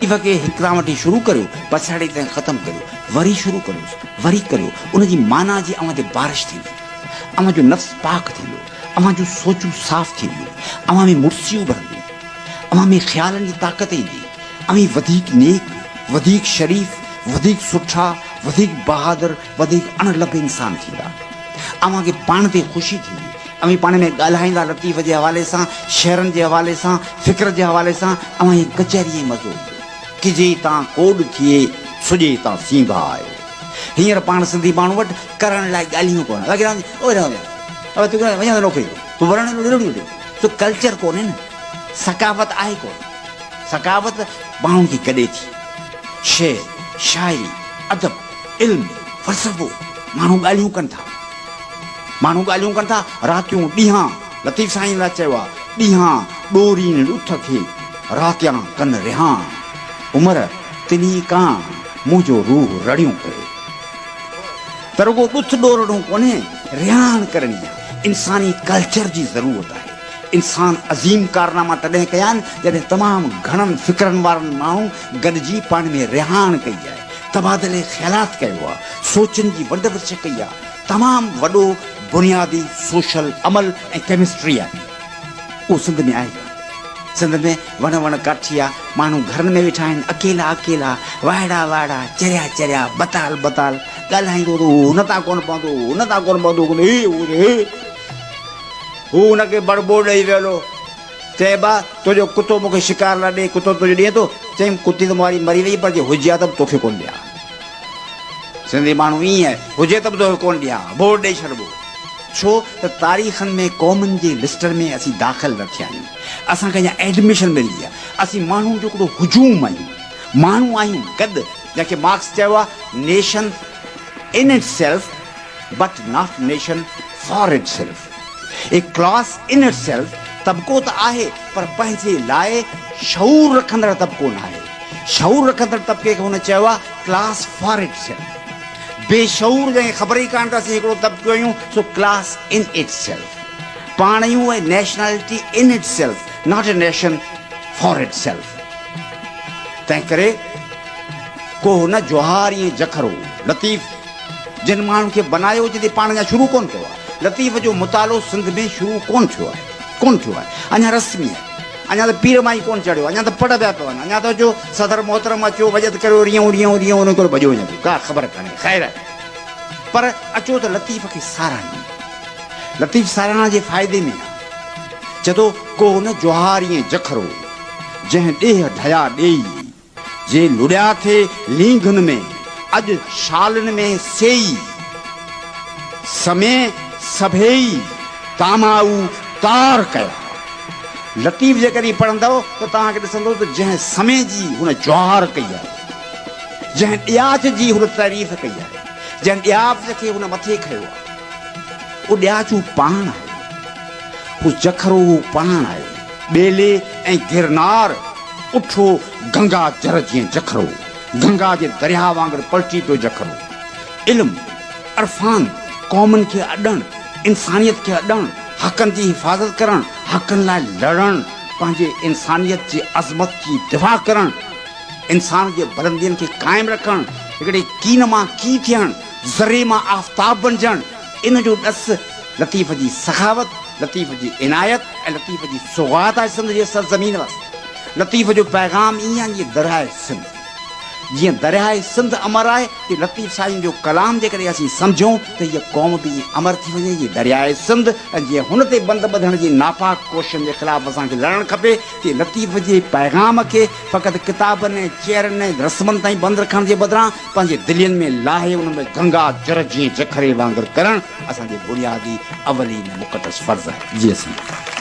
تڪليف کي هڪ ران وٺي شروع ڪريو، پڇاڙيء تائين ختم ڪريو، وري شروع ڪريوس، وري ڪريو، ان جي معنيٰ جي اوهان تي بارش ٿيندي، اوهان جو نفس پاڪ ٿيندو، اوهان جون سوچون صاف ٿينديون، اوهان ۾ مڙسيون اڀرنديون، اوهان ۾ خيالن جي طاقت ايندي، اوهين وڌيڪ نيڪ، وڌيڪ شريف، وڌيڪ سٺا، وڌيڪ بهادر، وڌيڪ اڻ لڀ انسان ٿيندا. اوهان کي پاڻ تي خوشي ٿيندي. اوهين پاڻ ۾ ڳالهائيندا لطيف جي حوالي سان شعرن جي حوالي سان فڪر جي حوالي سان اوهان هي ڪچهري ۾ مزو ڪجي تان ڪوڏ ٿئي سڄي تان سينگا آهي هينئر پاڻ سنڌي ماڻهو وٽ ڪرڻ لاء ڳالهيون ڪونه باقي رهندي اوهي رهندي اوهي تون ڪيڏانهن وڃان ٿو نوڪري تون ورڻ ڏيو ڏيو ڏيو سو ڪلچر ڪونهي نه ثقافت آهي ڪونه ثقافت ماڻهن کي گڏي ٿي شعر شاعري ادب علم فلسفو ماڻهو ڳالهيون ڪن ٿا. ماڻهو ڳالهيون ڪن ٿا راتيون ڏينهان لطيف سائين لاء چيو آهي ڏينهان ڏورين ڏٺ کي راتيان ڪن رهان عمر تنهي ڪان منهنجو روح رڙيون ڪري ته رڳو ڏٿ ڏورڙون ڪونهي رهان ڪرڻي آهي انساني ڪلچر جي ضرورت آهي انسان عظيم ڪارناما تڏهن ڪيا آهن جڏهن تمام گهڻن فڪرن وارن ماڻهن گڏجي پاڻ ۾ رهان ڪئي آهي. تبادلي خيالات ڪيو آ، سوچن جي ونڊ ورڇ ڪئي آ، تمام وڏو بنيادي سوشل عمل ۽ ڪيمسٽري آ ڪئي. اهو سنڌ ۾ آهي ڪانه. سنڌ ۾ وڻ وڻ ڪاٺي آ، ماڻهو گهرن ۾ ويٺا آهن، اڪيلا اڪيلا، وائڙا وائڙا، چريا چريا، بتال بتال، ڳالهائيندو ته هو هن تان ڪونه پوندو، هو هن تان ڪونه پوندو، هي هو ته هي، هو هن کي بڙبو ڏئي ويل هو، چيائين، ٻا! تنهنجو ڪتو مون کي شڪار لاء ڏي، ڪتو تنهنجو ڏيئي ٿو. چيم، ڪتي ته مون واري مري ويئي، پر جي هجي ها ته به توکي ڪونه ڏيان ها. سنڌي ماڻهو ائين آهي، هجي ته به توکي ڪونه ڏيان ها، ڀوڙ ڏيئي ڇڏبو. ڇو ته تاريخن ۾ قومن جي لسٽن ۾ اسين داخل نه ٿيا آهيون، اسان کي اڃا ايڊميشن ملي آهي. اسين ماڻهن جو هڪڙو هجوم آهيون، ماڻهو آهيون، گڏ، جنهن کي مارڪس چيو آهي، Nation in itself but not nation for itself. هي ڪلاس ان اٽ سيلف طبقو ته آهي پر پنهنجي لاء شعور رکندڙ طبقو ناهي. شعور رکندڙ طبقي کي هن چيو آهي ڪلاس فار اٽ سيلف. بي شعور جنهن کي خبر ئي ڪانهي ته اسين هڪڙو طبقو آهيون سو ڪلاس ان اٽ سيلف. پاڻ آهيون ۽ nationality in itself not a nation for itself. تنهن ڪري ڪو نه جوهار ائين جکرو لطيف. جن ماڻهن کي بنايو جتي پاڻ اڃا شروع ڪونه ڪيو آهي. لطيف جو مطالعو سنڌ ۾ شروع ڪونه ٿيو آهي. ڪونه ٿيو آهي. اڃا رسمي آهي. اڃا ته پير ماهي ڪونه چڙهيو. اڃا ته پڙ پيا پون. اڃا ته جو صدر محترم اچيو وڄت ڪريو ريون ريون ريون ريون ڪري ڀڄيو وڃي ٿو. ڪا خبر ڪانهي. خير. پر اچو ته لطيف کي ساراهيون. لطيف ساراهڻ جي فائدي ۾ آهي. چئي ٿو، ڪو نه جوهاريئي جکرو، جنهن ڏيهه ڍيا ڏيئي. جي لڙيا ٿي لينگهن ۾، اڄ شالن ۾ سيئي. سمين سڀيئي ڪامائو ڪار ڪيا. لطيف جيڪڏهن هي پڙهندؤ ته توهان کي ڏسندو ته جنهن سمين جي هن جهار ڪئي آهي، جنهن ڏياچ جي هن تعريف ڪئي آهي، جنهن ڏياچ کي هن مٿي کنيو آهي، اهو ڏياچ هو پاڻ آهي. هو جکرو هو پاڻ آهي. ٻيلي ۽ گرنار اٺو گنگا جر جيئن جکرو، گنگا جي درياهه وانگر پلٽي پيو جکرو. علم، عرفان، قومن کي اڏڻ، انسانيت کي اڏڻ، حقن جي حفاظت ڪرڻ، حقن لاء لڙڻ، پنهنجي انسانيت جي عظمت جي دفاع ڪرڻ، انسان جي بلندين کي قائم رکڻ، هڪڙي ڪين مان ڪي ٿيڻ، ذري مان آفتاب بنجڻ، ان جو ڏس لطيف جي سخاوت، لطيف جي عنايت ۽ لطيف جي سوغات آهي سنڌ جي سرزمين واسطي. لطيف جو پيغام ائين آهي جيئن درياهه سنڌ. جيئن درياهه سنڌ امر آهي، تيئن لطيف سائين جو ڪلام جيڪڏهن اسين سمجهون ته هيء قوم به ائين امر ٿي وڃي جيئن درياهه سنڌ ۽ جيئن هن تي بند ٻڌڻ جي ناپاڪ ڪوششن جي خلاف اسان کي لڙڻ کپي، تيئن لطيف جي پيغام کي فقط ڪتابن ۽ چيئرن ۽ رسمن تائين بند رکڻ جي بدران پنهنجي دلين ۾ لاهي انهن ۾ گنگا جر جيئن جکري وانگر ڪرڻ اسان جي بنيادي اولين ۽ مقدس فرض آهي. جي اسين.